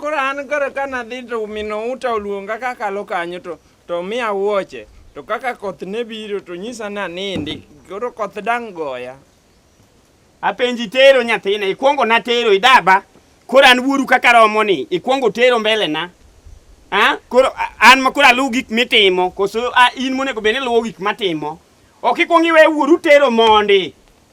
Koro an koro ka nadhi to minouta oluonga kakalo kanyo to to miya wuoche to kaka koth ne biro to nyisa ni anindi koro koth dang' goya apenji tero nyathina ikwongo natero idaba koro an wuoru kaka romo ni ikwongo tero mbele na a koro an ma koro aluw gik mitimo koso in monego bed ni luwo gik matimo ok ikwongo iwe wuoru tero mondi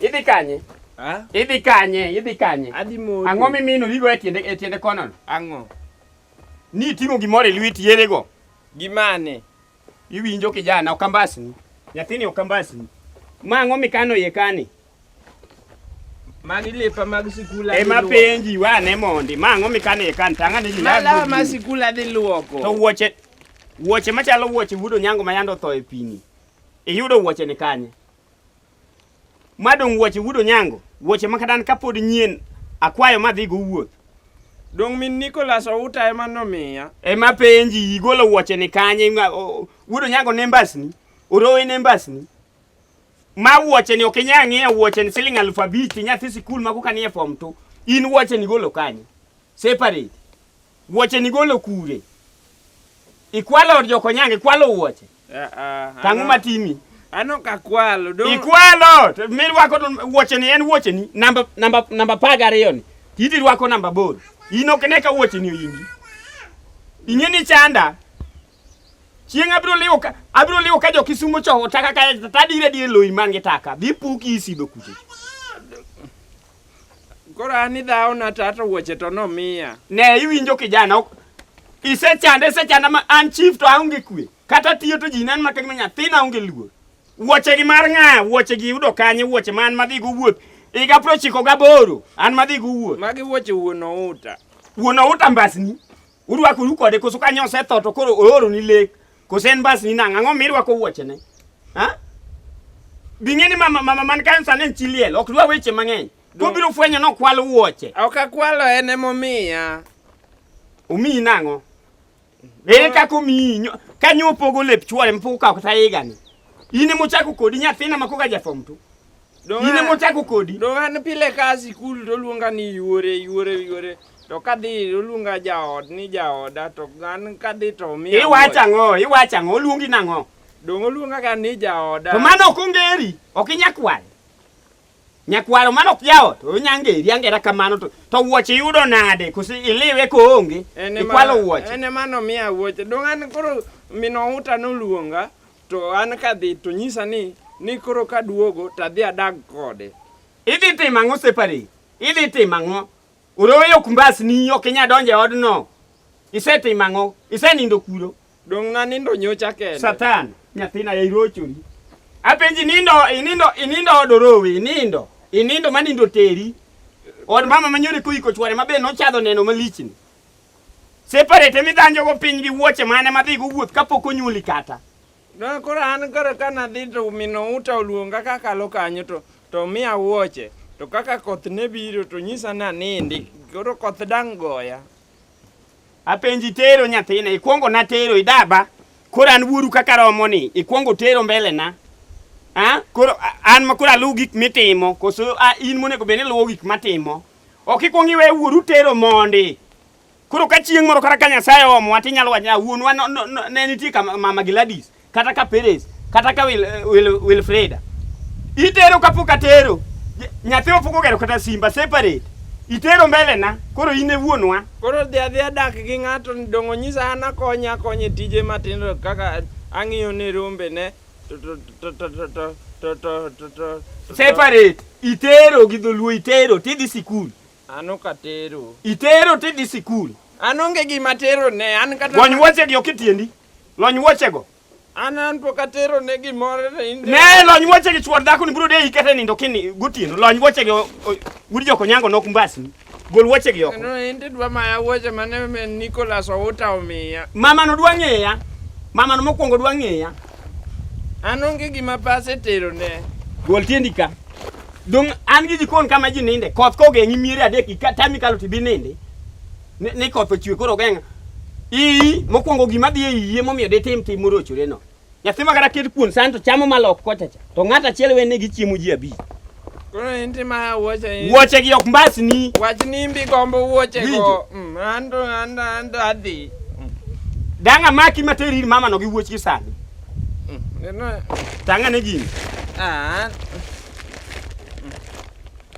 Idhi kanye? Ha? Idhi kanye? Idhi kanye? Adhi moto. Ang'o mimino dhigo e tiende e tiende kono? Ang'o? Ni ting'o gimoro e lweti yedhego. Gimane? Iwinjo kijana okambasni. Nyathini okambasni. Ma ang'o mikano iye kani? Magi lepa mag sikul adhi Ema luoko. penji wane mondi. Ma ang'o mikano iye kani? Tang'ane gima. Ma lawa ma sikul adhi luoko. To wuoche wuoche machalo wuoche wudo nyango ma yande otho e pini. Iyudo wuoche ni kanye? Madong wuoche wudo nyango, wuoche makadan kapod nyien akwayo madhi go wuoth. Dong min Nicholas Outa ema nomiya. Ema penji igolo wuoche ni kanye wudo nyango ne mbasni, orowe ne mbasni. Ma wuoche ni okinya ng'iya wuoche ni siling alufu abich nyathi sikul ma kokanie form 2. In wuoche ni golo kanye? Separate. Wuoche ni golo kure? Ikwalo od jokonyange, ikwalo wuoche. Ah, ah, Tang'o ano- matimi. Ano kakwalo. Don't- Ikwalo to mirwako to wuoche ni en wuoche ni namba namba namba apar gariyo ni. Titi rwako namba aboro. In ok ne ka wuoche ni oyingi. Ing'e ni chanda. Chieng' abiro liwo ka abiro liwo ka jo Kisumo cho taka ka tadire dire loyi man gi taka. Dhi puki isido kuche. Koro an idhawo na tata wuoche to nomiya. Ne iwinjo kijana ok isechanda isechanda ma an chief to aonge kwe. Kata tiyo to ji nan maka gima nyathina onge luor. Wuoche gi mar ng'a wuoche gi yudo kanye wuoche man madhi go wuoth. Iga pro chiko gaboro an madhi go wuoth. Magi wuoche wuon outa. Wuon outa mbasni. Urwakoru kode koso kanyo osetho to koro ooro ni lek. Kose en bas ni nang' ang'o mirwako wuochene? Ha? Bing'e ni mama mama man kayo sani en chi liel, ok dwa weche mang'eny. Kobiro fwenyo ni okwalo wuoche. Ok akwalo en emomiya. Omiyi nang'o? Ere kaka omiyi nyo- ka nyo opogo lep chwore mpogo kawo kata higani. In emochako kodi nyathina ma koka jafom tu. Ine mochako kodi. Do an pile ka sikul to luonga ni yuore yuore yuore. To kadhi oluonga jaod ni jaoda to an kadhi to mi. Iwacho ang'o? Iwacho ang'o? Oluongi nang'o? Dong' oluonga ga ni jaoda. To mano ok ongeri, ok inyakwal. Nyakwaro mano ok jaot, onyangeri angera kamano to to wuoche yudo nade? Kosi iliwe ko onge. Ikwalo wuoche. Ene mano miya wuoche. Dong' an koro mino uta noluonga. To an kadhi to nyisa ni ni koro kaduogo to adhi adag kode. Idhi timo ang'o separi? Idhi timo ang'o? Oroyo kumbas ni ok inya donje odno. Isetimo ang'o? Isenindo kuro. Dong' na nindo nyocha kende. Satan, nyathina ya irochori. Apenji nindo, inindo, inindo odorowe, inindo. Inindo manindo teri. Od mama manyore kuiko chware mabe nochadho neno malichni. Separate midhanjo go piny gi wuoche mane madhi go wuoth kapok onyuoli kata. Na koro an koro ka nadhi to mino uta oluonga kakalo kanyo to to miya wuoche to kaka koth ne biro to nyisa ni anindi koro koth dang' goya. Apenji tero nyathina ikwongo natero idaba koro an wuoru kaka romo ni ikwongo tero mbele na a koro a- an ma koro aluw gik mitimo koso a, in monego bed ni luwo gik matimo Ok ikwong iwe wuoru tero mondi. Koro ka chieng' moro kata ka Nyasaye omowa tinyalo wacho ni ah, wuonwa ne nitie ka mama Gladys kata ka Perez kata ka Wil, eh, Wil, Wilfreda. Itero kapok atero. Nyathi opok ogero kata simba separate. Itero mbele na, koro in e wuonwa. Koro dhi adhi adak gi ng'ato dongo nyisa an akonya akonye tije matindo kaka ang'iyo ne rombe ne Separate. Itero gi dholuo itero tidhi sikul. An ok atero. Itero tidhi sikul. An onge gima tero ne an kata. Lony wuoche gi ok itiendi. Lony wuoche go. An an pok atero ne gimoro ne inde. Ne lony wuoche gi chuor dhako ni biro de ikete nindo kini gotieno. Lony wuoche gi Wudi Jokonyango nok mbasni. Gol wuoche gi oko. No, indi dwa maya wuoche mane me Nicholas Outa omiya. Mama no dwa ng'eya. Mama no mokwongo dwa ng'eya. An onge gima pase tero ne. Gol tiendi ka. Dong an gi jikon kama ji ninde. Koth kogeng'i miere adek ka tami kalo tibi ninde. Ne, ne koth ochwe koro geng'a. Ii mokwongo gima dhi e iye momiyo ditim tim morochore no. Nyathi ma kata ket kuon santo chamo malok kocha cha. To ng'at achiel wene gi chiemo ji abich. Koro en ti ma wuoche in. Wuoche gi ok mbasni. Wach ni mbi gombo wuoche go. Winjo. Mm, Ando ando ando adhi. Dang' amaki ma teri ir mama no gi wuoch gi sani. Mm, Neno. Tang'a ne gini. Ah,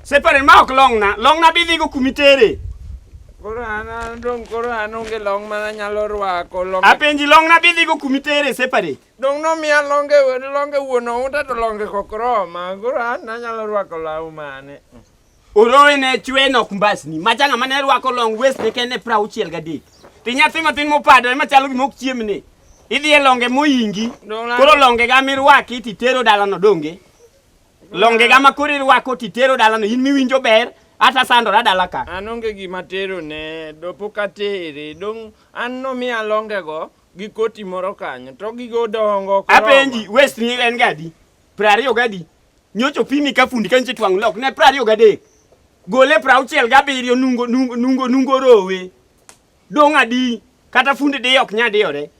Separen ma ok long'na. Long'na bidhigo kumitere. Koro an dong' koro an onge long' ma nanyalo rwako long'. Apenji long' nabidhigo kuma itere separate. Dong' nomiya longe longe wuon ounda to longe kok roma. Koro an nanyalo rwako law mane. Orowe ne chwe nok mbasni. Macha ng'ama ne rwako long' west ne kende pra auchiel gadek. To nyathi matin mopadore machalo gima ok chiemne. Idhi e longe moyingi. Koro longe ga mirwaki titero dalano donge. Longe ga makore rwako titero dala no in miwinjo ber ata sandora dala ka. An onge gima tero ne do pok atere dong an no mi alonge go gi koti moro kanyo to gigo dongo. Apenji west ni en gadi. Prariyo gadi. Nyocho pimi ka fundi kanche twang lok ne prariyo gadi. Gole prauchiel gabiriyo nungo nungo nungo nungo rowe. Dong adi kata fundi diyo ok nyadiyore.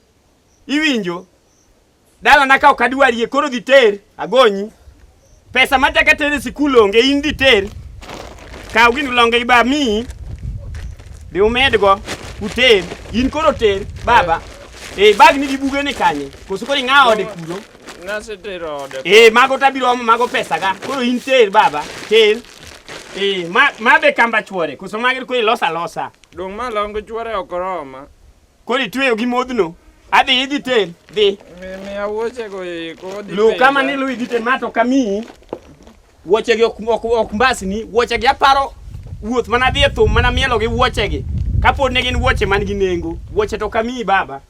Iwinjo? Dala na ka ok adwarie koro dhi ter agonyi. Pesa ma taka tere sikul onge in dhi ter. Kaw gini longe gi ba mi. Be umedgo uter in koro ter baba. Eh, eh bag ni gi buge ni kanye. Koso koro ing'awo ode kuro. Nasetero ode. Eh mago tabiro omo mago pesa ga. Koro in ter baba. Ter. Eh ma ma be kamba chwore. Koso mager ko ilosa losa. Dong ma longo chwore okoroma. Koro itweyo gi modhno. Adhi idhi ten, dhi. Mimi awuoche go iko. Lu kama ni lu idhi ten mato kami. Wuoche gi ok ok ok mbasni, wuoche gi aparo wuoth mana dhi e thum mana mielo gi wuoche gi. Kapod ne gin wuoche man gi nengo, wuoche to kami baba.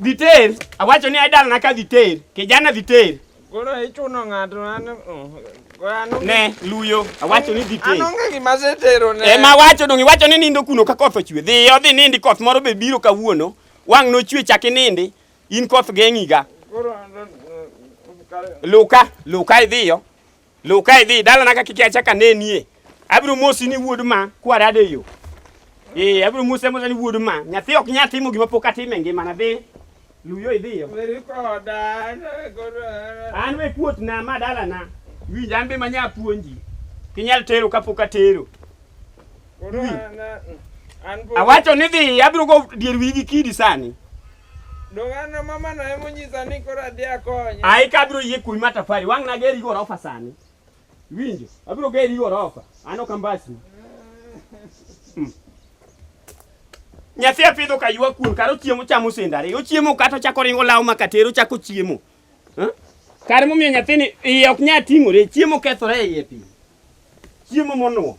Dhi ter, awacho ni idal na ka dhi ter, kijana dhi ter. Koro ichuno ng'ato an mm, ne luyo awacho ni dhi tee. Anonge gima setero ne. Ema wacho dongi wacho ni nindo kuno ka koth ochwe. Dhi odhi nindi koth moro be biro kawuono. Wang' nochwe chaki nindi. In koth geng'iga. Koro mm, mm, luka luka idhiyo. Luw ka idhi dalana ka kik achak anenie. Abiro mosi ni wuod ma kwarade e yo. Eh, abiro mose mose ni wuod ma. Nyathi ok nya timo gima pok atimo e ngimana dhi. Luw yo idhi yo. Weri koda, an e koda. An we kuot na ma dalana. Winj an be manya puonji. Kinyal tero ka pok atero. Koro an, an po- Awacho ni dhi abiro go dier wigi kidi sani. Ai kabiro yie kuwi matafari wang' na geri gorofa sani. Winjo, abiro geri gorofa. Ano kambasi. Hmm. Nyathi apidho ka ywa kuon karo chiemo chamo sendare. Ochiemo kata chako ringo law makatero chako chiemo. Huh? Kare momiyo nyathini iye ok nya ting'ore, chiemo kethore e iye piny. Chiemo monuo.